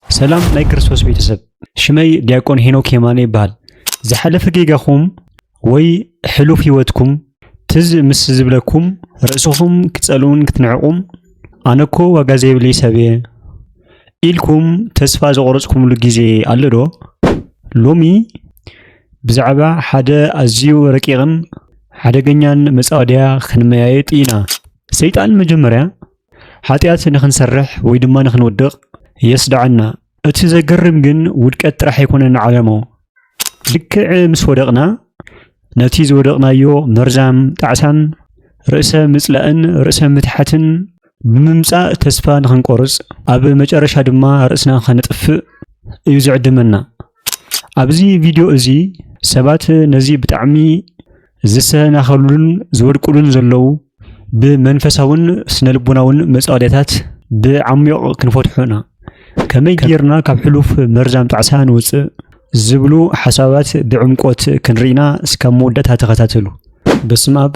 ሰላም ናይ ክርስቶስ ቤተሰብ፣ ሽመይ ዲያቆን ሄኖክ የማነ ይበሃል። ዝሓለፈ ጌጋኹም ወይ ሕሉፍ ህይወትኩም ትዝ ምስ ዝብለኩም ርእስኹም ክትጸልኡን ክትንዕቁም ኣነኮ ዋጋ ዘይብለይ ሰብየ ኢልኩም ተስፋ ዘቆረጽኩምሉ ግዜ ኣሎ ዶ? ሎሚ ብዛዕባ ሓደ ኣዝዩ ረቂቕን ሓደገኛን መጻወድያ ክንመያየጥ ኢና። ሰይጣን መጀመርያ ሓጢኣት ንኽንሰርሕ ወይ ድማ ንኽንውድቕ የስድዓና። እቲ ዘገርም ግን ውድቀት ጥራሕ ኣይኮነን ዓላማኡ። ልክዕ ምስ ወደቕና ነቲ ዝወደቕናዮ መርዛም ጣዕሳን ርእሰ ምጽላእን ርእሰ ምትሓትን ብምምጻእ ተስፋ ንኽንቆርጽ ኣብ መጨረሻ ድማ ርእስና ኸነጥፍእ እዩ ዝዕድመና። ኣብዚ ቪድዮ እዚ ሰባት ነዚ ብጣዕሚ ዝሰናኸሉሉን ዝወድቁሉን ዘለዉ ብመንፈሳውን ስነልቦናውን መጻወድያታት ብዓሚዮቕ ክንፈትሖ ኢና። ከመይ ጌርና ካብ ሕሉፍ መርዛም ጣዕሳ ንውጽእ ዝብሉ ሓሳባት ብዕምቆት ክንርኢና እስካብ መወዳእታ ተኸታተሉ። በስመ ኣብ።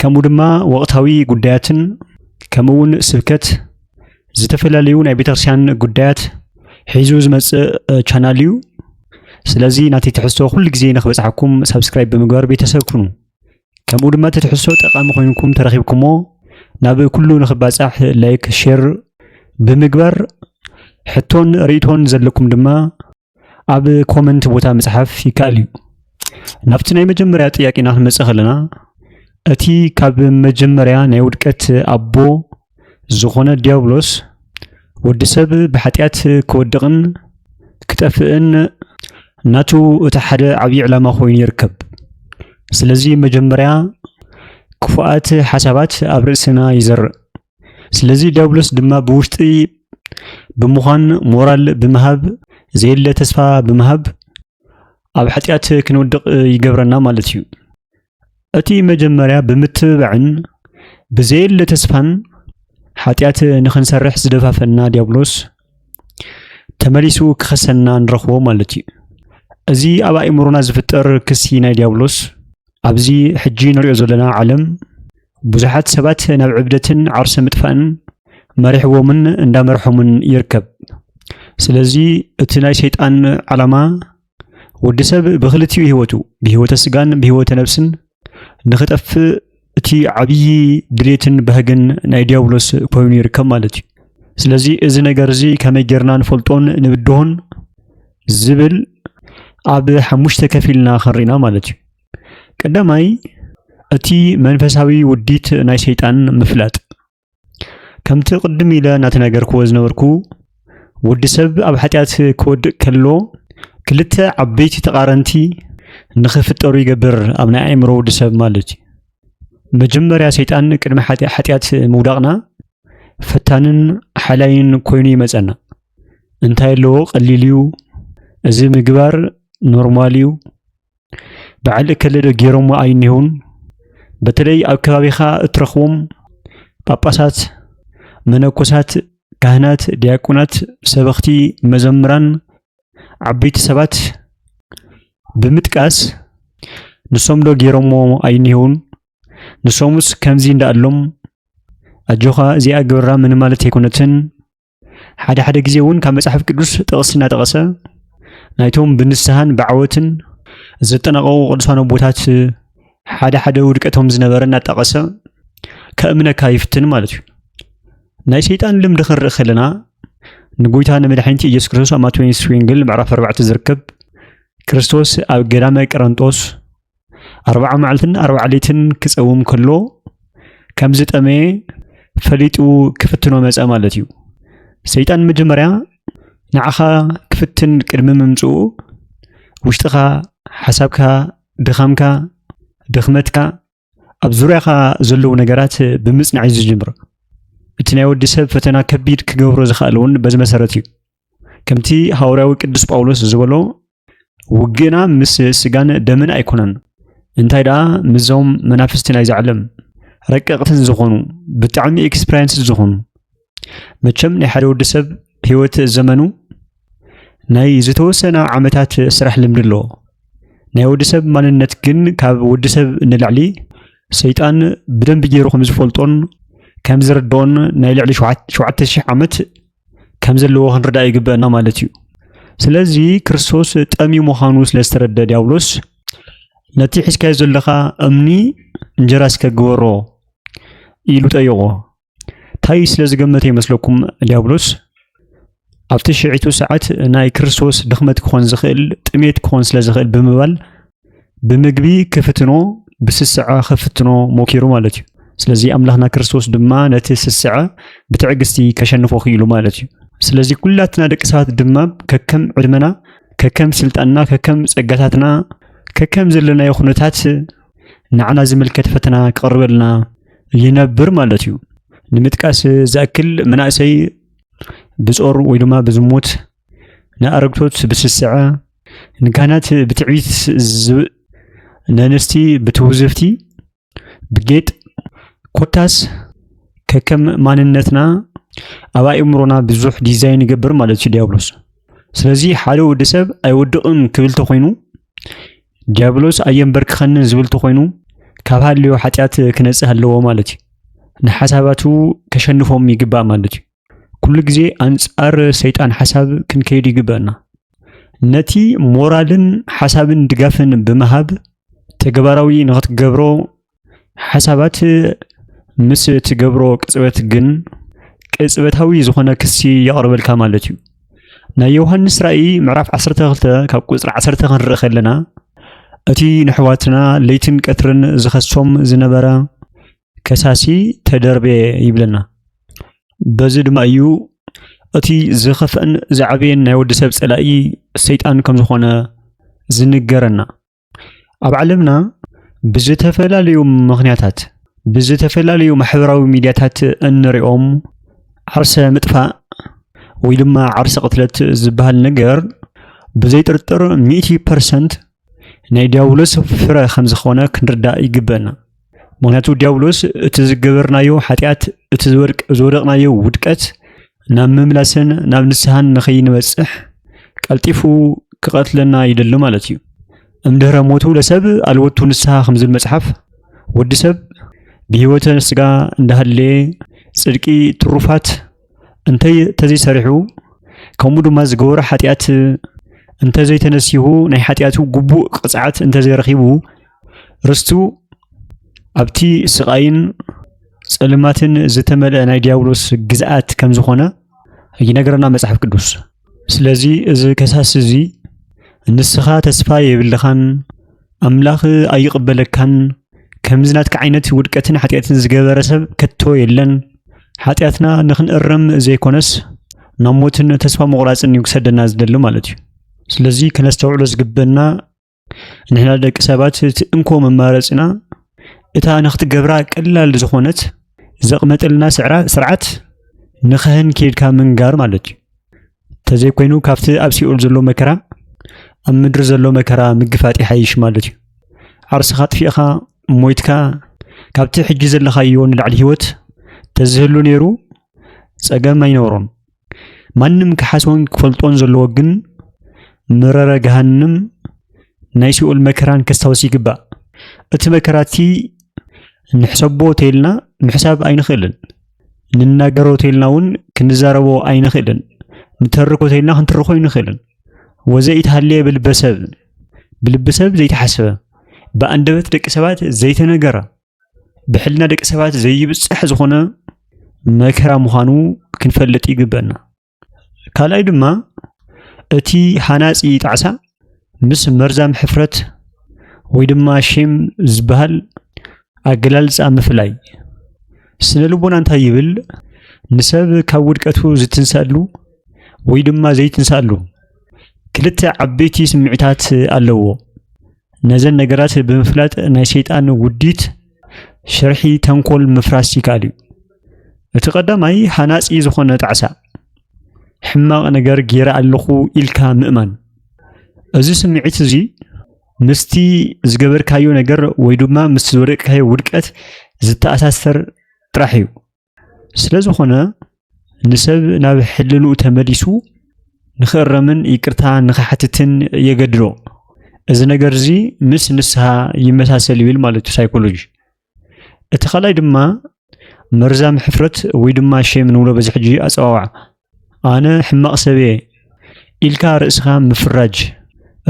ከምኡ ድማ ወቕታዊ ጉዳያትን ከምኡ እውን ስብከት ዝተፈላለዩ ናይ ቤተክርስቲያን ጉዳያት ሒዙ ዝመፅእ ቻናል እዩ። ስለዚ ናተይ ትሕዝቶ ኩሉ ግዜ ንክበፅሓኩም ሳብስክራይብ ብምግባር ቤተሰብ ኩኑ። ከምኡ ድማ እቲ ትሕዝቶ ጠቃሚ ኮይንኩም ተረኪብኩሞ ናብ ኩሉ ንክባፃሕ ላይክ፣ ሼር ብምግባር ሕቶን ርእቶን ዘለኩም ድማ ኣብ ኮመንት ቦታ ምጽሓፍ ይከኣል እዩ ናብቲ ናይ መጀመርያ ጥያቄና ክንመጽእ ከለና እቲ ካብ መጀመርያ ናይ ውድቀት ኣቦ ዝኾነ ዲያብሎስ ወዲ ሰብ ብሓጢኣት ክወድቕን ክጠፍእን ናቱ እቲ ሓደ ዓብዪ ዕላማ ኮይኑ ይርከብ ስለዚ መጀመርያ ክፉኣት ሓሳባት ኣብ ርእስና ይዘርእ ስለዚ ዲያብሎስ ድማ ብውሽጢ ብምዃን ሞራል ብምሃብ ዘየለ ተስፋ ብምሃብ ኣብ ሓጢኣት ክንወድቕ ይገብረና ማለት እዩ። እቲ መጀመርያ ብምትብባዕን ብዘየለ ተስፋን ሓጢኣት ንኽንሰርሕ ዝደፋፈና ዲያብሎስ ተመሊሱ ክኸሰና ንረኽቦ ማለት እዩ። እዚ ኣብ ኣእምሮና ዝፍጠር ክሲ ናይ ዲያብሎስ ኣብዚ ሕጂ ንሪኦ ዘለና ዓለም ብዙሓት ሰባት ናብ ዕብደትን ዓርሰ ምጥፋእን መሪሕዎምን እንዳመርሖምን ይርከብ። ስለዚ እቲ ናይ ሰይጣን ዓላማ ወዲ ሰብ ብክልቲኡ ህይወቱ ብህይወተ ስጋን ብህይወተ ነብስን ንክጠፍእ እቲ ዓብዪ ድሌትን ባህግን ናይ ዲያብሎስ ኮይኑ ይርከብ ማለት እዩ ስለዚ እዚ ነገር እዚ ከመይ ጌርና ንፈልጦን ንብድሆን ዝብል ኣብ ሓሙሽተ ከፊልና ክንርኢና ማለት እዩ ቀዳማይ እቲ መንፈሳዊ ውዲት ናይ ሰይጣን ምፍላጥ ከምቲ ቅድም ኢለ እናተናገርክዎ ዝነበርኩ ወዲ ሰብ ኣብ ሓጢኣት ክወድቅ ከሎ ክልተ ዓበይቲ ተቃረንቲ ንክፍጠሩ ይገብር ኣብ ናይ ኣእምሮ ወዲ ሰብ ማለት እዩ። መጀመርያ ሰይጣን ቅድሚ ሓጢኣት ምውዳቅና ፈታንን ሓላይን ኮይኑ ይመፀና። እንታይ ኣለዎ ቀሊል እዩ፣ እዚ ምግባር ኖርማል እዩ፣ በዓል እከለዶ ገይሮሞ ኣይኒሆን በተለይ ኣብ ከባቢኻ እትረኽቦም ጳጳሳት፣ መነኮሳት፣ ካህናት፣ ዲያቆናት፣ ሰበኽቲ፣ መዘምራን፣ ዓበይቲ ሰባት ብምጥቃስ ንሶም ዶ ገይሮሞ ኣይኒሆን ንሶምስ ከምዚ እንዳኣሎም ኣጆኻ እዚኣ ግበራ ምን ማለት ኣይኮነትን ሓደ ሓደ ግዜ እውን ካብ መጽሓፍ ቅዱስ ጥቕሲ እናጠቐሰ ናይቶም ብንስሃን ብዓወትን ዘጠናቐቑ ቅዱሳን ኣቦታት ሓደ ሓደ ውድቀቶም ዝነበረ እናጠቐሰ ከእምነካ ይፍትን ማለት እዩ ናይ ሰይጣን ልምዲ ክንርኢ ከለና ንጎይታ ንመድሓኒቲ ኢየሱስ ክርስቶስ ኣብ ማቴዎስ ወንጌል ምዕራፍ ኣርባዕተ ዝርከብ ክርስቶስ ኣብ ገዳመ ቀረንጦስ ኣርብዓ መዓልትን ኣርብዓ ለይትን ክፀውም ከሎ ከም ዝጠመየ ፈሊጡ ክፍትኖ መፀ ማለት እዩ ሰይጣን መጀመርያ ንዓኻ ክፍትን ቅድሚ ምምፅኡ ውሽጥኻ ሓሳብካ ድኻምካ ድኽመትካ ኣብ ዙርያኻ ዘለዉ ነገራት ብምፅናዕ እዩ ዝጅምር እቲ ናይ ወዲ ሰብ ፈተና ከቢድ ክገብሮ ዝኽኣል እውን በዚ መሰረት እዩ ከምቲ ሃዋርያዊ ቅዱስ ጳውሎስ ዝበሎ ውግእና ምስ ስጋን ደምን ኣይኮነን፣ እንታይ ደኣ ምስዞም መናፍስቲ ናይዚ ዓለም ረቀቕትን ዝኾኑ ብጣዕሚ ኤክስፐሪንስ ዝኾኑ መቸም ናይ ሓደ ወዲ ሰብ ህይወት ዘመኑ ናይ ዝተወሰነ ዓመታት ስራሕ ልምዲ ኣለዎ። ናይ ወዲ ሰብ ማንነት ግን ካብ ወዲ ሰብ ንላዕሊ ሰይጣን ብደንቢ ገይሩ ከም ዝፈልጦን ከም ዝርድኦን ናይ ልዕሊ ሸውዓተ ሽሕ ዓመት ከም ዘለዎ ክንርዳእ ይግበአና ማለት እዩ። ስለዚ ክርስቶስ ጠምዩ ምዃኑ ስለ ዝተረደ ዲያብሎስ ነቲ ሒዝካዮ ዘለኻ እምኒ እንጀራ እስከ ግበሮ ኢሉ ጠየቖ። እንታይ ስለ ዝገመተ ይመስለኩም ዲያብሎስ ኣብቲ ሽዒቱ ሰዓት ናይ ክርስቶስ ድኽመት ክኾን ዝኽእል ጥሜት ክኾን ስለ ዝኽእል ብምባል ብምግቢ ክፍትኖ ብስስዐ ክፍትኖ ሞኪሩ ማለት እዩ ስለዚ ኣምላኽና ክርስቶስ ድማ ነቲ ስስዐ ብትዕግስቲ ከሸንፎ ክኢሉ ማለት እዩ ስለዚ ኩላትና ደቂ ሰባት ድማ ከከም ዕድመና ከከም ስልጣንና ከከም ጸጋታትና ከከም ዘለናዮ ኩነታት ንዓና ዝምልከት ፈተና ክቐርበልና ይነብር ማለት እዩ ንምጥቃስ ዝኣክል መናእሰይ ብጾር ወይ ድማ ብዝሙት ንኣረግቶት ብስስዐ፣ ንካህናት ብትዕቢት፣ ነንስቲ ብትውዝፍቲ፣ ብጌጥ ኮታስ ከከም ማንነትና ኣብ ኣእምሮና ብዙሕ ዲዛይን ይገብር ማለት እዩ ዲያብሎስ። ስለዚ ሓደ ወዲ ሰብ ኣይወድቕን ክብል ተኾይኑ ዲያብሎስ ኣየንበርክኸንን ዝብል ተኾይኑ ካብ ሃልዮ ሓጢኣት ክነጽህ ኣለዎ ማለት እዩ። ንሓሳባቱ ከሸንፎም ይግባእ ማለት እዩ። ኩሉ ግዜ ኣንጻር ሰይጣን ሓሳብ ክንከይድ ይግበአና። ነቲ ሞራልን ሓሳብን ድጋፍን ብምሃብ ተግባራዊ ንኽትገብሮ ሓሳባት ምስ ትገብሮ ቅጽበት ግን ቅጽበታዊ ዝኾነ ክሲ የቕርበልካ ማለት እዩ። ናይ ዮሃንስ ራእይ ምዕራፍ 12 ካብ ቁጽሪ 10 ክንርኢ ከለና እቲ ንሕዋትና ለይትን ቀትርን ዝኸሶም ዝነበረ ከሳሲ ተደርበየ ይብለና። በዚ ድማ እዩ እቲ ዝኸፍአን ዝዓበየን ናይ ወዲ ሰብ ጸላኢ ሰይጣን ከም ዝኾነ ዝንገረና። ኣብ ዓለምና ብዝተፈላለዩ ምኽንያታት ብዝተፈላለዩ ማሕበራዊ ሚዲያታት እንሪኦም ዓርሰ ምጥፋእ ወይ ድማ ዓርሰ ቅትለት ዝበሃል ነገር ብዘይ ጥርጥር ሚእቲ ፐርሰንት ናይ ዲያብሎስ ፍረ ከም ዝኾነ ክንርዳእ ይግበና። ምክንያቱ ዲያብሎስ እቲ ዝገበርናዮ ሓጢኣት እቲ ዝወደቕናዮ ውድቀት ናብ ምምላስን ናብ ንስሓን ንኸይንበፅሕ ቀልጢፉ ክቐትለና ይደሊ ማለት እዩ እምድህረ ሞቱ ለሰብ ኣልወቱ ንስሓ ከም ዝብል መፅሓፍ ወዲ ሰብ ብህይወተ ስጋ እንዳሃለየ ፅድቂ ትሩፋት እንተዘይሰሪሑ ከምኡ ድማ ዝገበሮ ሓጢኣት እንተዘይተነሲሁ ናይ ሓጢኣቱ ግቡእ ቅፅዓት እንተዘይረኺቡ ርስቱ ኣብቲ ስቓይን ፀልማትን ዝተመልአ ናይ ዲያብሎስ ግዝኣት ከም ዝኾነ ይነግረና መፅሓፍ ቅዱስ። ስለዚ እዚ ከሳሲ እዚ ንስኻ ተስፋ የብልኻን ኣምላኽ ኣይቕበለካን ከምዚ ናትካ ዓይነት ውድቀትን ሓጢኣትን ዝገበረ ሰብ ከቶ የለን ሓጢኣትና ንኽንእረም ዘይኮነስ ናብ ሞትን ተስፋ ምቑራጽን እዩ ክሰደና ዝደሊ ማለት እዩ። ስለዚ ከነስተውዕሎ ዝግበና ንሕና ደቂ ሰባት እቲ እንኮ መማረፅና እታ ንክትገብራ ቀላል ዝኾነት ዘቕመጠልና ስርዓት ንኸህን ኬድካ ምንጋር ማለት እዩ ተዘይኮይኑ ካብቲ ኣብ ሲኦል ዘሎ መከራ ኣብ ምድሪ ዘሎ መከራ ምግፋጥ ይሓይሽ ማለት እዩ ዓርስኻ ጥፊእኻ ሞይትካ ካብቲ ሕጂ ዘለኻዮ ንላዕሊ ሂወት ተዝህሉ ነይሩ ፀገም ኣይነበሮም ማንም ክሓስቦን ክፈልጦን ዘለዎ ግን መረረ ገሃንም ናይ ሲኦል መከራን ከስታውስ ይግባእ። እቲ መከራ እቲ ንሕሰቦ ተይልና ምሕሳብ ኣይንኽእልን። ንናገሮ ተይልና እውን ክንዛረቦ ኣይንኽእልን። ንተርኮ ተይልና ክንትርኮ ኣይንኽእልን። ወዘኢተሃልየ ብልበሰብ ብልብሰብ ዘይተሓስበ ብኣንደበት ደቂ ሰባት ዘይተነገረ ብሕልና ደቂ ሰባት ዘይብፅሕ ዝኾነ መከራ ምዃኑ ክንፈልጥ ይግበና ካልኣይ ድማ እቲ ሃናፂ ጣዕሳ ምስ መርዛም ሕፍረት ወይ ድማ ሼም ዝበሃል ኣገላልፃ ምፍላይ ስነ ልቦና እንታይ ይብል ንሰብ ካብ ውድቀቱ ዝትንሳሉ ወይ ድማ ዘይትንሳሉ ክልተ ዓበይቲ ስምዒታት ኣለዎ። ነዘን ነገራት ብምፍላጥ ናይ ሰይጣን ውዲት ሽርሒ ተንኮል ምፍራስ ይከኣል እዩ። እቲ ቀዳማይ ሃናጺ ዝኾነ ጣዕሳ ሕማቕ ነገር ገይረ ኣለኹ ኢልካ ምእማን እዚ ስምዒት እዚ ምስቲ ዝገበርካዮ ነገር ወይ ድማ ምስ ዝወደቅካዮ ውድቀት ዝተኣሳሰር ጥራሕ እዩ ስለ ዝኾነ ንሰብ ናብ ሕልንኡ ተመሊሱ ንኽእረምን ይቅርታ ንኽሓትትን የገድዶ። እዚ ነገር እዚ ምስ ንስሃ ይመሳሰል ይብል ማለት እዩ ሳይኮሎጂ። እቲ ካልኣይ ድማ መርዛም ሕፍረት ወይ ድማ ሼም ንብሎ በዚ ሕጂ ኣጸዋውዓ ኣነ ሕማቕ ሰብ እየ ኢልካ ርእስኻ ምፍራጅ።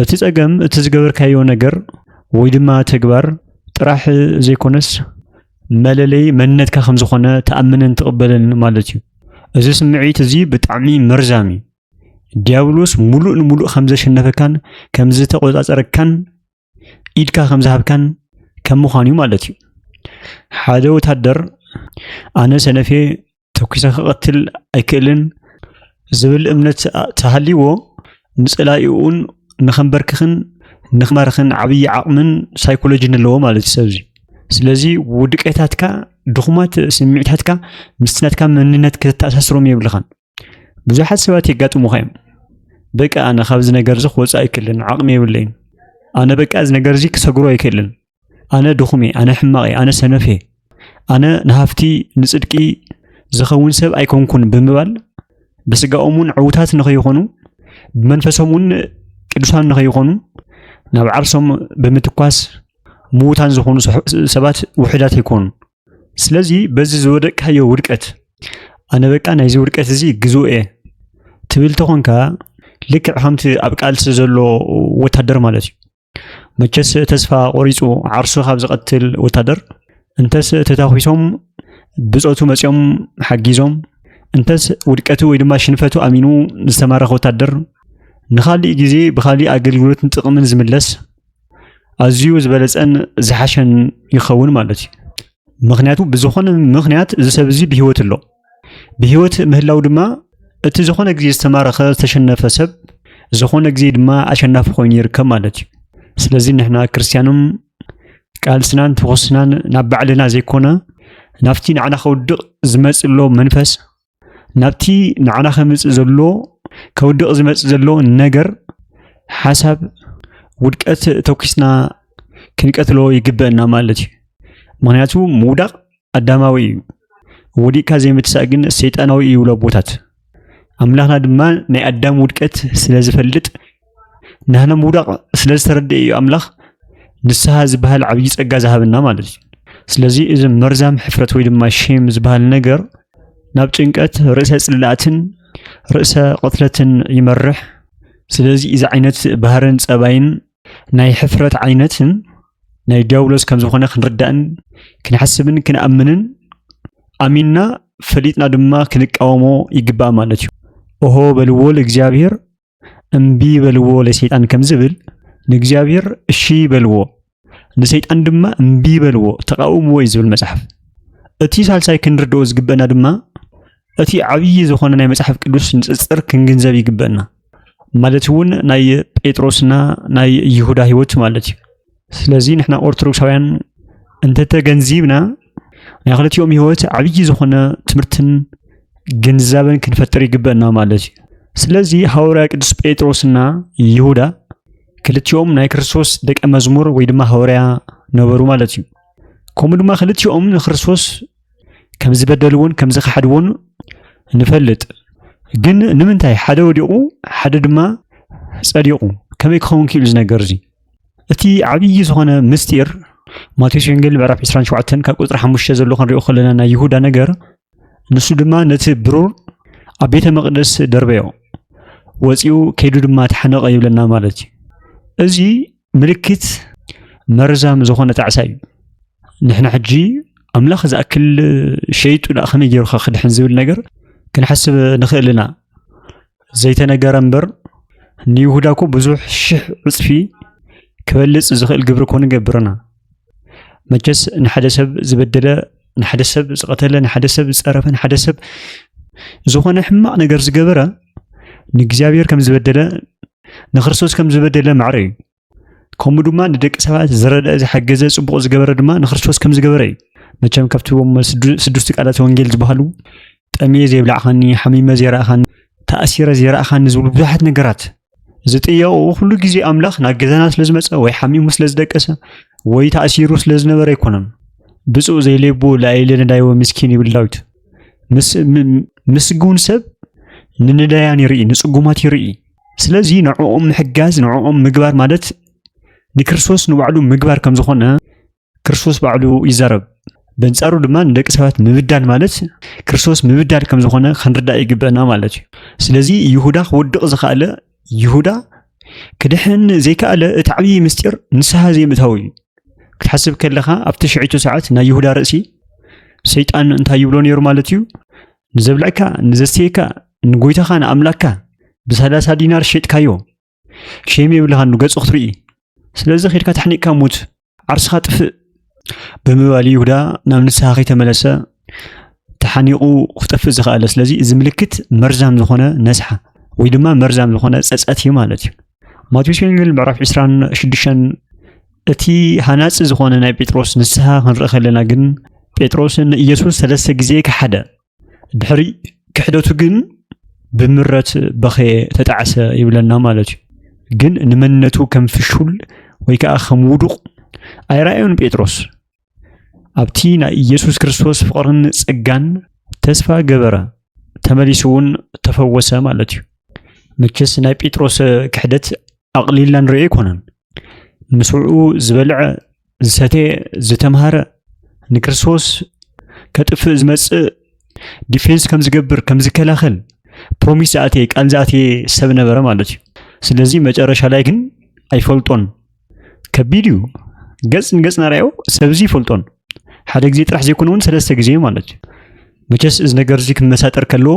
እቲ ጸገም እቲ ዝገበርካዮ ነገር ወይ ድማ ተግባር ጥራሕ ዘይኮነስ መለለይ መንነትካ ከም ዝኾነ ትኣምንን ትቕበልን ማለት እዩ። እዚ ስምዒት እዚ ብጣዕሚ መርዛም እዩ። ዲያብሎስ ሙሉእ ንሙሉእ ከም ዘሸነፈካን ከም ዝተቖጻጸረካን ኢድካ ከም ዝሃብካን ከም ምዃን እዩ ማለት እዩ። ሓደ ወታደር ኣነ ሰነፌ ተኲሰ ክቐትል ኣይክእልን ዝብል እምነት ተሃልይዎ ንጸላኢኡን ንኸንበርክኽን ንኽማርኽን ዓብዪ ዓቕምን ሳይኮሎጂን ኣለዎ ማለት እዩ ሰብዚ ስለዚ ውድቀታትካ ድኹማት ስምዒታትካ ምስናትካ መንነት ከተተኣሳስሮም የብልኻን ብዙሓት ሰባት የጋጥሙኻ እዮም በቃ ኣነ ካብዚ ነገር እዚ ክወፃእ ኣይክእልን ዓቕሚ የብለይን ኣነ በቃ እዚ ነገር እዚ ክሰግሮ ኣይክእልን ኣነ ድኹም እየ ኣነ ሕማቕ እየ ኣነ ሰነፍ እየ ኣነ ንሃፍቲ ንፅድቂ ዝኸውን ሰብ ኣይኮንኩን ብምባል ብስጋኦም እውን ዕውታት ንኸይኾኑ ብመንፈሶም እውን ቅዱሳን ንኸይኾኑ ናብ ዓርሶም ብምትኳስ ምዉታን ዝኾኑ ሰባት ውሕዳት ኣይኮኑን ስለዚ በዚ ዝወደቅካዮ ውድቀት ኣነ በቃ ናይዚ ውድቀት እዚ ግዝኡ እየ ትብል ተኾንካ ልክዕ ከምቲ ኣብ ቃልሲ ዘሎ ወታደር ማለት እዩ መቸስ ተስፋ ቆሪፁ ዓርሱ ካብ ዝቐትል ወታደር እንተስ ተታኺሶም ብፆቱ መፂኦም ሓጊዞም እንተስ ውድቀቱ ወይ ድማ ሽንፈቱ ኣሚኑ ዝተማረኸ ወታደር ንካሊእ ግዜ ብካሊእ ኣገልግሎትን ጥቕምን ዝምለስ ኣዝዩ ዝበለፀን ዝሓሸን ይኸውን ማለት እዩ ምክንያቱ ብዝኾነ ምክንያት እዚ ሰብ እዚ ብሂወት ኣሎ ብሂወት ምህላው ድማ እቲ ዝኾነ ግዜ ዝተማረኸ ዝተሸነፈ ሰብ ዝኾነ ግዜ ድማ ኣሸናፊ ኮይኑ ይርከብ ማለት እዩ ስለዚ ንሕና ክርስትያኖም ቃልስናን ትኩስናን ናብ ባዕልና ዘይኮነ ናብቲ ንዓና ከውድቕ ዝመፅእ ዘሎ መንፈስ ናብቲ ንዓና ከምፅእ ዘሎ ከውድቕ ዝመፅእ ዘሎ ነገር ሓሳብ ውድቀት ተኪስና ክንቀትሎ ይግበአና ማለት እዩ ምክንያቱ ምውዳቕ ኣዳማዊ እዩ ወዲቕካ ዘይምትሳእ ግን ሰይጣናዊ እዩ ብሎ ኣቦታት ኣምላኽና ድማ ናይ ኣዳም ውድቀት ስለ ዝፈልጥ ናህና ምውዳቕ ስለ ዝተረድአ እዩ ኣምላኽ ንስሃ ዝበሃል ዓብዪ ጸጋ ዝሃበና ማለት እዩ ስለዚ እዚ መርዛም ሕፍረት ወይ ድማ ሼም ዝበሃል ነገር ናብ ጭንቀት ርእሰ ጽላእትን ርእሰ ቅትለትን ይመርሕ ስለዚ እዚ ዓይነት ባህርን ጸባይን ናይ ሕፍረት ዓይነትን ናይ ዲያብሎስ ከም ዝኾነ ክንርዳእን ክንሓስብን ክንኣምንን ኣሚንና ፈሊጥና ድማ ክንቃወሞ ይግባእ ማለት እዩ ኦሆ በልዎ እግዚኣብሔር እምቢ በልዎ ለሰይጣን ከም ዝብል ንእግዚኣብሔር እሺ በልዎ ንሰይጣን ድማ እምቢ በልዎ ተቃውምዎ እዩ ዝብል መጽሓፍ። እቲ ሳልሳይ ክንርድኦ ዝግበአና ድማ እቲ ዓብዪ ዝኾነ ናይ መጽሓፍ ቅዱስ ንጽጽር ክንግንዘብ ይግበአና ማለት እውን ናይ ጴጥሮስና ናይ ይሁዳ ህይወት ማለት እዩ። ስለዚ ንሕና ኦርቶዶክሳውያን እንተተገንዚብና ናይ ክልቲኦም ህይወት ዓብዪ ዝኾነ ትምህርትን ግንዛበን ክንፈጥር ይግበአና ማለት እዩ ስለዚ ሃዋርያ ቅዱስ ጴጥሮስና ይሁዳ ክልቲኦም ናይ ክርስቶስ ደቀ መዝሙር ወይ ድማ ሃዋርያ ነበሩ ማለት እዩ ከምኡ ድማ ክልቲኦም ንክርስቶስ ከም ዝበደልዎን ከም ዝኸሓድዎን ንፈልጥ ግን ንምንታይ ሓደ ወዲቑ ሓደ ድማ ጸዲቑ ከመይ ክኸውን ክኢሉ ዝነገር እዙ እቲ ዓብዪ ዝኾነ ምስጢር ማቴዎስ ወንጌል ምዕራፍ 27 ካብ ቁፅሪ 5 ዘሎ ክንሪኦ ከለና ናይ ይሁዳ ነገር ንሱ ድማ ነቲ ብሩር ኣብ ቤተ መቅደስ ደርበዮ ወፂኡ ከይዱ ድማ ተሓነቀ ይብለና ማለት እዩ እዚ ምልክት መርዛም ዝኾነ ጣዕሳ እዩ ንሕና ሕጂ ኣምላኽ ዝኣክል ሸይጡ ዳኣ ከመይ ገይሩካ ክድሕን ዝብል ነገር ክንሓስብ ንኽእል ኢና ዘይተነገረ እምበር ንይሁዳ እኮ ብዙሕ ሽሕ ዕፅፊ ክበልፅ ዝኽእል ግብሪ እኮ ንገብርና። መቸስ ንሓደ ሰብ ዝበደለ ንሓደ ሰብ ዝቐተለ ንሓደ ሰብ ዝፀረፈ ንሓደ ሰብ ዝኾነ ሕማቕ ነገር ዝገበረ ንእግዚኣብሔር ከም ዝበደለ ንክርስቶስ ከም ዝበደለ ማዕረ እዩ። ከምኡ ድማ ንደቂ ሰባት ዝረድአ ዝሓገዘ ጽቡቕ ዝገበረ ድማ ንክርስቶስ ከም ዝገበረ እዩ መቸም ካብቲ ስዱስቲ ቃላት ወንጌል ዝበሃሉ ጠምየ ዘይብላዕኻኒ ሓሚመ ዘይረእኻኒ ተኣሲረ ዘይረእኻኒ ዝብሉ ብዙሓት ነገራት ዝጥየቑ ኩሉ ግዜ ኣምላኽ ናብ ገዛና ስለ ዝመፀ ወይ ሓሚሙ ስለ ዝደቀሰ ወይ ተኣሲሩ ስለ ዝነበረ ኣይኮነን ብፁእ ዘይሌቡ ላይለ ነዳይወ ምስኪን ይብል ዳዊት ምስግውን ሰብ ንነዳያን ይርኢ ንፅጉማት ይርኢ ስለዚ ንዕኦም ምሕጋዝ ንዕኦም ምግባር ማለት ንክርስቶስ ንባዕሉ ምግባር ከም ዝኾነ ክርስቶስ ባዕሉ ይዛረብ። በንጻሩ ድማ ንደቂ ሰባት ምብዳል ማለት ክርስቶስ ምብዳል ከም ዝኾነ ክንርዳእ ይግበና ማለት እዩ። ስለዚ ይሁዳ ክወድቕ ዝኸኣለ ይሁዳ ክድሕን ዘይከኣለ እቲ ዓብዪ ምስጢር ንስሓ ዘይምእታው እዩ። ክትሓስብ ከለኻ ኣብቲ ሽዒቱ ሰዓት ናይ ይሁዳ ርእሲ ሰይጣን እንታይ ይብሎ ነይሩ ማለት እዩ? ንዘብልዕካ ንዘስተየካ ንጎይታኻ ንኣምላክካ ብሰላሳ ዲናር ሸጥካዮ ሸም የብልኻ ንገጹ ክትርኢ ስለዚ ኺድካ ተሕኒቕካ ሙት ዓርስኻ ጥፍእ ብምባል ይሁዳ ናብ ንስሓ ከይተመለሰ ተሓኒቑ ክጠፍእ ዝኸኣለ ስለዚ እዚ ምልክት መርዛም ዝኾነ ነስሓ ወይ ድማ መርዛም ዝኾነ ፀፀት እዩ ማለት እዩ ማቴዎስ ወንጌል ምዕራፍ 26 እቲ ሃናፂ ዝኾነ ናይ ጴጥሮስ ንስሓ ክንርኢ ከለና ግን ጴጥሮስ ንኢየሱስ ሰለስተ ግዜ ከሓደ ድሕሪ ክሕደቱ ግን ብምረት በኸየ ተጣዕሰ ይብለና ማለት እዩ ግን ንመንነቱ ከም ፍሹል ወይ ከዓ ከም ውዱቕ ኣይረኣዮን ጴጥሮስ ኣብቲ ናይ ኢየሱስ ክርስቶስ ፍቕርን ጸጋን ተስፋ ገበረ፣ ተመሊሱ እውን ተፈወሰ ማለት እዩ። መቸስ ናይ ጴጥሮስ ክሕደት ኣቕሊልና ንሪኦ ኣይኮነን። ምስኡ ዝበልዐ ዝሰተየ ዝተምሃረ ንክርስቶስ ከጥፍእ ዝመጽእ ዲፌንስ ከም ዝገብር ከም ዝከላኸል ፕሮሚስ ዝኣተየ ቃል ዝኣተየ ሰብ ነበረ ማለት እዩ። ስለዚ መጨረሻ ላይ ግን ኣይፈልጦን ከቢድ እዩ። ገጽ ንገጽ ናርኣዮ ሰብዚ ይፈልጦን ሓደ ግዜ ጥራሕ ዘይኮነ እውን ሰለስተ ግዜ ማለት እዩ። መቸስ እዚ ነገር እዚ ክመሳጠር ከለዎ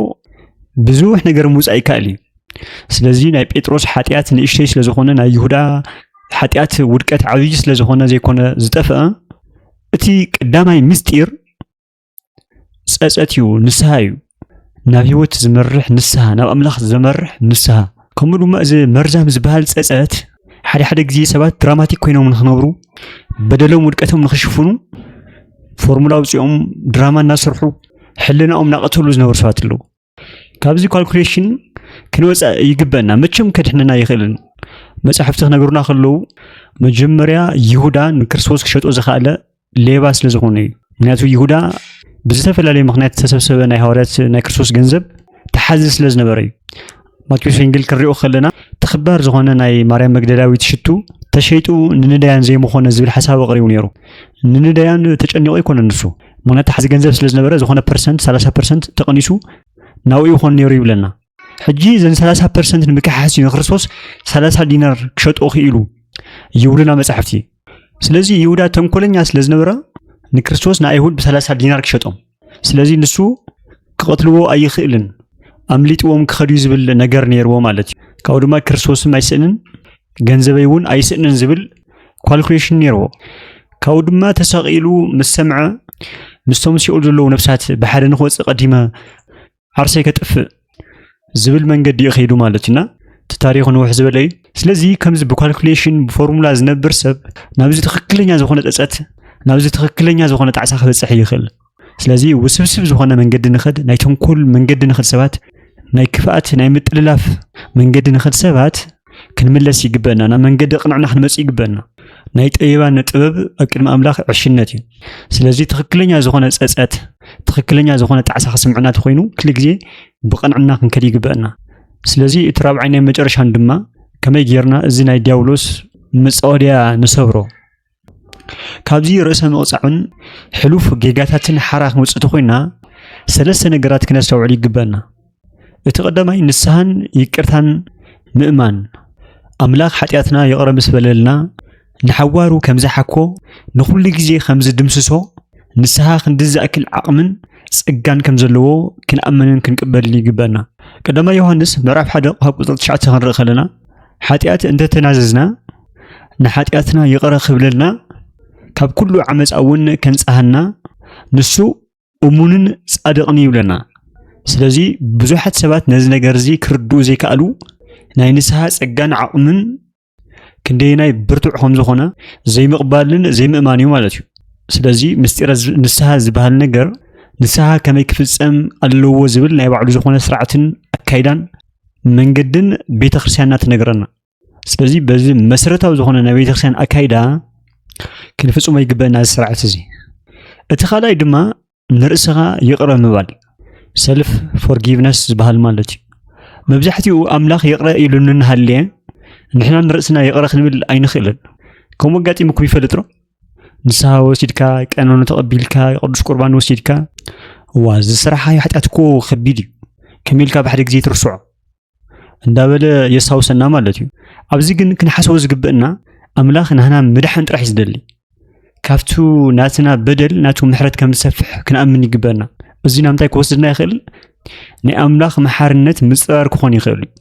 ብዙሕ ነገር ምውፃእ ይከኣል እዩ። ስለዚ ናይ ጴጥሮስ ሓጢኣት ንእሽተይ ስለ ዝኾነ ናይ ይሁዳ ሓጢኣት ውድቀት ዓብዪ ስለ ዝኾነ ዘይኮነ ዝጠፍአ እቲ ቀዳማይ ምስጢር ጸጸት እዩ ንስሃ እዩ ናብ ህይወት ዝመርሕ ንስሃ ናብ ኣምላኽ ዘመርሕ ንስሃ ከምኡ ድማ እዚ መርዛም ዝበሃል ጸጸት ሓደ ሓደ ግዜ ሰባት ድራማቲክ ኮይኖም ንክነብሩ በደሎም ውድቀቶም ንክሽፍኑ ፎርሙላ ውፅኦም ድራማ እናሰርሑ ሕልናኦም እናቐተሉ ዝነበሩ ሰባት ኣለዉ ካብዚ ኳልኩሌሽን ክንወፅእ ይግበና መቸም ከድሕነና ይኽእልን መፅሕፍቲ ክነገሩና ከለዉ መጀመርያ ይሁዳ ንክርስቶስ ክሸጦ ዝኸኣለ ሌባ ስለ ዝኾነ እዩ ምክንያቱ ይሁዳ ብዝተፈላለየ ምክንያት ዝተሰብሰበ ናይ ሃዋርያት ናይ ክርስቶስ ገንዘብ ተሓዚ ስለ ዝነበረ እዩ ማቴዎስ ወንጌል ክንሪኦ ከለና ተኽባር ዝኾነ ናይ ማርያም መግደላዊት ሽቱ ተሸይጡ ንንዳያን ዘይምኾነ ዝብል ሓሳብ ኣቕሪቡ ነይሩ ንንዳያን ተጨኒቑ ኣይኮነ ንሱ መታሓዚ ገንዘብ ስለ ዝነበረ ዝኾነ ፐርሰንት ሰላሳ ፐርሰንት ተቐኒሱ ናብኡ ይኾን ነይሩ ይብለና ሕጂ እዘን ሰላሳ ፐርሰንት ንምክሓስ እዩ ንክርስቶስ ሰላሳ ዲናር ክሸጦ ክኢሉ ይብሉና መፃሕፍቲ ስለዚ ይሁዳ ተንኮለኛ ስለ ዝነበረ ንክርስቶስ ንኣይሁድ ብሰላሳ ዲናር ክሸጦም ስለዚ ንሱ ክቐትልዎ ኣይኽእልን ኣምሊጥዎም ክኸድዩ ዝብል ነገር ነይርዎ ማለት እዩ ካብኡ ድማ ክርስቶስም ኣይስእንን ገንዘበይ እውን ኣይስእንን ዝብል ኳልኩሌሽን ነይርዎ። ካብኡ ድማ ተሰቒሉ ምስ ሰምዐ ምስቶም ሲኦል ዘለዉ ነፍሳት ብሓደ ንክወፅእ ቀዲመ ዓርሰይ ከጥፍእ ዝብል መንገዲ እዩ ከይዱ ማለት እዩና እቲ ታሪኹ ንውሕ ዝበለ እዩ። ስለዚ ከምዚ ብኳልኩሌሽን ብፎርሙላ ዝነብር ሰብ ናብዚ ትኽክለኛ ዝኾነ ፀፀት ናብዚ ትኽክለኛ ዝኾነ ጣዕሳ ክበፅሕ ይኽእል። ስለዚ ውስብስብ ዝኾነ መንገዲ ንኸድ ናይ ተንኮል መንገዲ ንኸድ ሰባት ናይ ክፍኣት ናይ ምጥልላፍ መንገዲ ንኸድ ሰባት ክንምለስ ይግበአና ናብ መንገዲ ቅንዕና ክንመፅእ ይግበአና ናይ ጠቢባን ጥበብ ኣብ ቅድሚ ኣምላኽ ዕሽነት እዩ ስለዚ ትኽክለኛ ዝኾነ ፀፀት ትኽክለኛ ዝኾነ ጣዕሳ ክስምዕና ተኮይኑ ክል ግዜ ብቐንዕና ክንከድ ይግበአና ስለዚ እቲ ራብዓይ ናይ መጨረሻን ድማ ከመይ ጌርና እዚ ናይ ዲያብሎስ መፃወድያ ንሰብሮ ካብዚ ርእሰ ምቕጻዕን ሕሉፍ ጌጋታትን ሓራ ክንወጽእ ተኾይና ሰለስተ ነገራት ክነስተውዕል ይግበና። እቲ ቀዳማይ ንስሓን ይቅርታን ምእማን ኣምላኽ ሓጢኣትና ይቕረ ምስ በለልና ንሓዋሩ ከም ዝሓኮ ንኹሉ ግዜ ከም ዝድምስሶ ንስሓ ክንዲ ዝኣክል ዓቕምን ጸጋን ከም ዘለዎ ክንኣምንን ክንቅበልን ይግበና ቀዳማ ዮሃንስ ምዕራፍ ሓደ ካብ ቁጽሪ ትሽዓተ ክንርኢ ከለና ሓጢኣት እንተተናዘዝና ንሓጢኣትና ይቕረ ክብለልና ካብ ኩሉ ዓመፃ እውን ከንፀሃና ንሱ እሙንን ጻድቕን ይብለና። ስለዚ ብዙሓት ሰባት ነዚ ነገር እዚ ክርድኡ ዘይከኣሉ ናይ ንስሓ ጸጋን ዓቕምን ክንደየናይ ብርቱዕ ከም ዝኾነ ዘይምቕባልን ዘይምእማን እዩ ማለት እዩ ስለዚ ምስጢረ ንስሓ ዝበሃል ነገር ንስሓ ከመይ ክፍጸም ኣለዎ ዝብል ናይ ባዕሉ ዝኾነ ስርዓትን ኣካይዳን መንገድን ቤተ ክርስትያንና ትነግረና ስለዚ በዚ መሰረታዊ ዝኾነ ናይ ቤተክርስትያን ኣካይዳ ክንፍፅሞ ይግበአና እዚ ስርዓት እዚ እቲ ካልኣይ ድማ ንርእስኻ ይቕረ ምባል ሰልፍ ፎርጊቭነስ ዝበሃል ማለት እዩ መብዛሕትኡ ኣምላኽ ይቕረ ኢሉ እንሃልየ ንሕና ንርእስና ይቕረ ክንብል ኣይንኽእልን ከምኡ ኣጋጢሙኩም ይፈልጥ ዶ ንስሃ ወሲድካ ቀኖኑ ተቐቢልካ ቅዱስ ቁርባን ወሲድካ እዋ እዚ ስራሓ ሓጢኣት እኮ ከቢድ እዩ ከመይ ኢልካ ብሓደ ግዜ ትርስዖ እንዳበለ የስታውሰና ማለት እዩ ኣብዚ ግን ክንሓስቦ ዝግብእና ኣምላኽ ናህና ምድሓን ጥራሕ ዝደሊ ካብቲ ናትና በደል ናቱ ምሕረት ከም ዝሰፍሕ ክንኣምን ይግበና እዚ ናብ ምንታይ ክወስድና ይኽእል ናይ ኣምላኽ መሓርነት ምፅራር ክኾን ይኽእል እዩ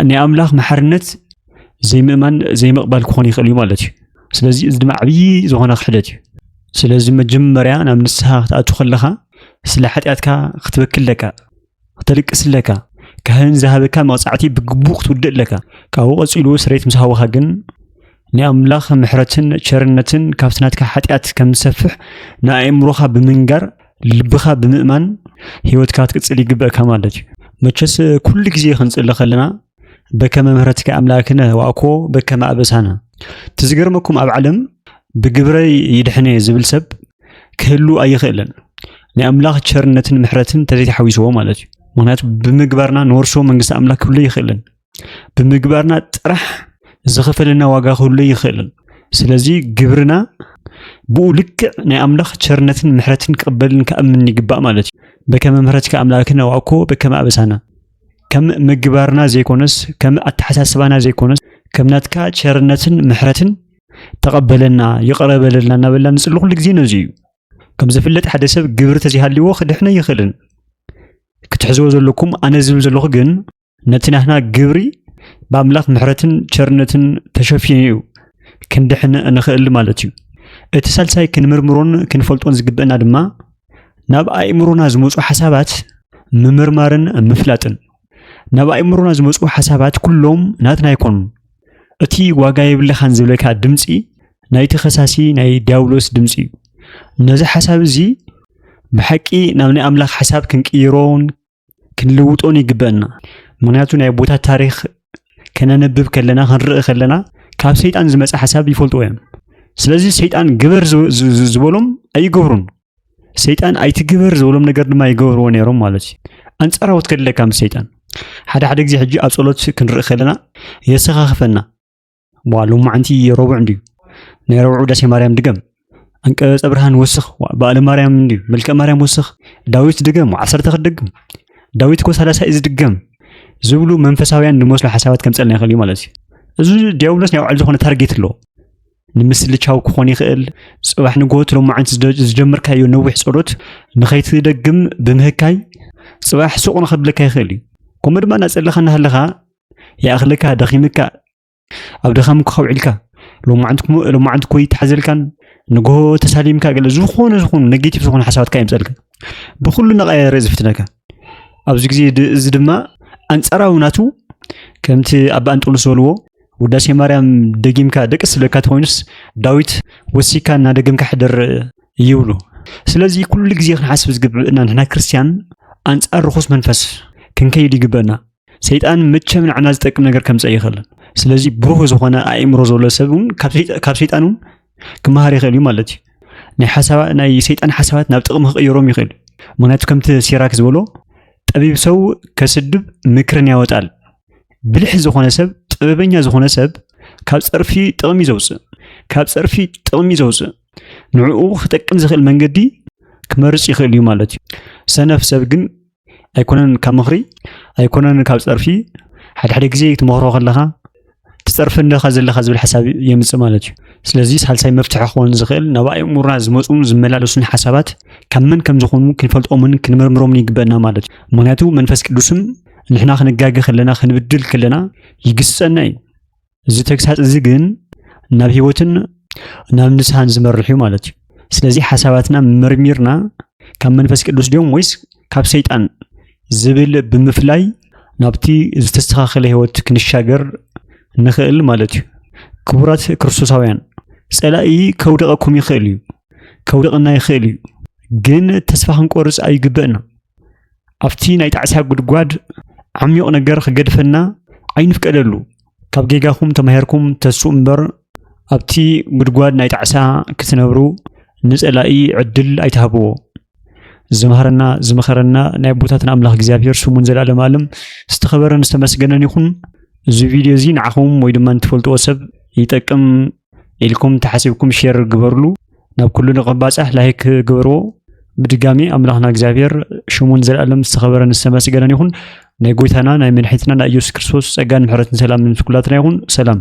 ናይ ኣምላኽ መሓርነት ዘይምእማን ዘይምቕባል ክኾን ይኽእል እዩ ማለት እዩ ስለዚ እዚ ድማ ዓብዪ ዝኾነ ክሕደት እዩ ስለዚ መጀመርያ ናብ ንስሓ ክትኣቱ ከለኻ ስለ ሓጢኣትካ ክትበክል ኣለካ ክተልቅስ ኣለካ ካህን ዝሃበካ መቕጻዕቲ ብግቡእ ክትውድእ ኣለካ ካብኡ ቀጺሉ ስሬት ምስ ሃወኻ ግን ናይ ኣምላኽ ምሕረትን ቸርነትን ካብቲ ናትካ ሓጢኣት ከም ዝሰፍሕ ንኣእምሮኻ ብምንጋር ልብኻ ብምእማን ህይወትካ ክትቅጽል ይግበእካ ማለት እዩ መቸስ ኩሉ ግዜ ክንጽሊ ከለና በከመ ምህረትከ ኣምላክነ ዋእኮ በከመ ኣበሳነ እቲ ዝገርመኩም ኣብ ዓለም ብግብረይ ይድሕነ ዝብል ሰብ ክህሉ ኣይኽእልን ናይ ኣምላኽ ቸርነትን ምሕረትን ተዘይተሓዊስዎ ማለት እዩ ምክንያቱ ብምግባርና ንወርሶ መንግስቲ ኣምላክ ክህሉ ይኽእልን ብምግባርና ጥራሕ ዝኸፈለና ዋጋ ክህሉ ይኽእልን ስለዚ ግብርና ብኡ ልክዕ ናይ ኣምላኽ ቸርነትን ምሕረትን ክቕበልን ከኣምን ይግባእ ማለት እዩ በከመ ምሕረትከ ኣምላክነ ዋእኮ በከመ ኣበሳነ ከም ምግባርና ዘይኮነስ ከም ኣተሓሳስባና ዘይኮነስ ከም ናትካ ቸርነትን ምሕረትን ተቐበለና ይቕረ በለልና እናበልና ንፅሊ ኩሉ ግዜ ነዚ እዩ ከም ዝፍለጥ ሓደ ሰብ ግብሪ ተዘይሃልዎ ክድሕነ ይኽእልን ክትሕዝዎ ዘለኩም ኣነ ዝብል ዘለኹ ግን ነቲ ናትና ግብሪ ብኣምላኽ ምሕረትን ቸርነትን ተሸፊኑ እዩ ክንድሕን እንኽእል ማለት እዩ እቲ ሳልሳይ ክንምርምሮን ክንፈልጦን ዝግበአና ድማ ናብ ኣእምሮና ዝመፁ ሓሳባት ምምርማርን ምፍላጥን ናብ ኣእምሮና ዝመፁ ሓሳባት ኩሎም ናትና ኣይኮኑን እቲ ዋጋ የብልኻን ዝብለካ ድምፂ ናይቲ ከሳሲ ናይ ዲያብሎስ ድምፂ እዩ ነዚ ሓሳብ እዚ ብሓቂ ናብ ናይ ኣምላኽ ሓሳብ ክንቅይሮን ክንልውጦን ይግበአና ምክንያቱ ናይ ኣቦታት ታሪክ ከነንብብ ከለና ክንርኢ ከለና ካብ ሰይጣን ዝመፀ ሓሳብ ይፈልጥዎ እዮም ስለዚ ሰይጣን ግበር ዝበሎም ኣይገብሩን ሰይጣን ኣይትግበር ዝበሎም ነገር ድማ ይገብርዎ ነይሮም ማለት እዩ ኣንፃራዎት ከድለካ ምስ ሰይጣን ሓደ ሓደ ግዜ ሕጂ ኣብ ፀሎት ክንርኢ ከለና የሰኻኽፈና ዋ ሎማዓንቲ ረቡዕ እንድዩ ናይ ረብዑ ውዳሴ ማርያም ድገም ኣንቀጸ ብርሃን ወስኽ በዓለ ማርያም እንድዩ መልከ ማርያም ወስኽ ዳዊት ድገም ዓሰርተ ክደግም ዳዊት እኮ ሳላሳይ እዩ ዝድገም ዝብሉ መንፈሳውያን ንመስሉ ሓሳባት ከምፀልና ይኽእል እዩ ማለት እዩ እዚ ዲያብሎስ ናይ ባዕሉ ዝኾነ ታርጌት ኣለዎ ንምስልቻው ክኾን ይኽእል ፅባሕ ንጎት ሎማዓንቲ ዝጀመርካዮ ነዊሕ ፀሎት ንኸይትደግም ብምህካይ ፅባሕ ሱቕ ንኸብለካ ይኽእል እዩ ከምኡ ድማ እናፀለኻ እናሃለኻ ይኣኽለካ ደኺምካ ኣብ ድኻም ክኸብዒልካ ሎማዓንቲ ኮይ ተሓዘልካን ንግሆ ተሳሊምካ ገለ ዝኾነ ዝኾኑ ኔጌቲቭ ዝኾኑ ሓሳባትካ የምፀልካ ብኩሉ ነቐየረ ዝፍትነካ ኣብዚ ግዜ እዚ ድማ ኣንፃራዊ ናቱ ከምቲ ኣባ እንጦንስ ዝበልዎ ውዳሴ ማርያም ደጊምካ ደቂ ስለካ ትኮይኑስ ዳዊት ወሲካ እናደገምካ ሕደር ይብሉ ስለዚ ኩሉ ግዜ ክንሓስብ ዝግብእና ንሕና ክርስትያን ኣንፃር ርኹስ መንፈስ ክንከይድ ይግበና ሰይጣን መቸም ንዓና ዝጠቅም ነገር ከምፀ ይኽእልን ስለዚ ብሩህ ዝኾነ ኣእምሮ ዘሎ ሰብ እውን ካብ ሰይጣን እውን ክመሃር ይኽእል እዩ ማለት እዩ ናይ ሓሳባ ናይ ሰይጣን ሓሳባት ናብ ጥቕሚ ክቕይሮም ይኽእል ምክንያቱ ከምቲ ሲራክ ዝበሎ ጠቢብ ሰው ከስድብ ምክርን ያወጣል ብልሕ ዝኾነ ሰብ ጥበበኛ ዝኾነ ሰብ ካብ ፀርፊ ጥቕሚ ዘውፅእ ካብ ፀርፊ ጥቕሚ ዘውፅእ ንዕኡ ክጠቅም ዝኽእል መንገዲ ክመርፅ ይኽእል እዩ ማለት እዩ ሰነፍ ሰብ ግን ኣይኮነን ካብ ምኽሪ ኣይኮነን ካብ ፀርፊ ሓደ ሓደ ግዜ ትመኽሮ ከለኻ ትፀርፊ ኣለኻ ዘለኻ ዝብል ሓሳብ የምፅእ ማለት እዩ ስለዚ ሳልሳይ መፍትሒ ክኸውን ዝኽእል ናብ ኣእምሮና ዝመፁን ዝመላለሱን ሓሳባት ካብ መን ከም ዝኾኑ ክንፈልጦምን ክንምርምሮምን ይግበአና ማለት እዩ ምክንያቱ መንፈስ ቅዱስም ንሕና ክንጋገ ከለና ክንብድል ከለና ይግስፀና እዩ እዚ ተግሳጽ እዚ ግን ናብ ህይወትን ናብ ንስሓን ዝመርሕ እዩ ማለት እዩ። ስለዚ ሓሳባትና መርሚርና ካብ መንፈስ ቅዱስ ድዮም ወይስ ካብ ሰይጣን ዝብል ብምፍላይ ናብቲ ዝተስተኻኸለ ህይወት ክንሻገር ንኽእል ማለት እዩ። ክቡራት ክርስቶሳውያን፣ ጸላኢ ከውድቐኩም ይኽእል እዩ፣ ከውድቕና ይኽእል እዩ፣ ግን ተስፋ ክንቆርጽ ኣይግበእና። ኣብቲ ናይ ጣዕሳ ጉድጓድ ዓሚዩቕ ነገር ክገድፈና ኣይንፍቀደሉ። ካብ ጌጋኹም ተማሂርኩም ተስኡ እምበር ኣብቲ ጉድጓድ ናይ ጣዕሳ ክትነብሩ ንጸላኢ ዕድል ኣይትሃብዎ። ዝመሃረና ዝመኸረና ናይ ኣቦታትና ኣምላኽ እግዚኣብሔር ስሙን ዘላለም ኣለም ዝተኸበረን ዝተመስገነን ይኹን። እዚ ቪድዮ እዚ ንዓኹም ወይ ድማ ንትፈልጥዎ ሰብ ይጠቅም ኢልኩም እንተሓሲብኩም ሼር ግበርሉ ናብ ኩሉ ንቐባጻሕ ላይክ ግበርዎ ብድጋሚ ኣምላኽና እግዚኣብሔር ሽሙን ዘለኣለም ዝተኸበረን ዝተመስገነን ይኹን ናይ ጎይታና ናይ መድሒትና ናይ ኢየሱስ ክርስቶስ ጸጋን ምሕረትን ሰላምን ምስ ኩላትና ይኹን ሰላም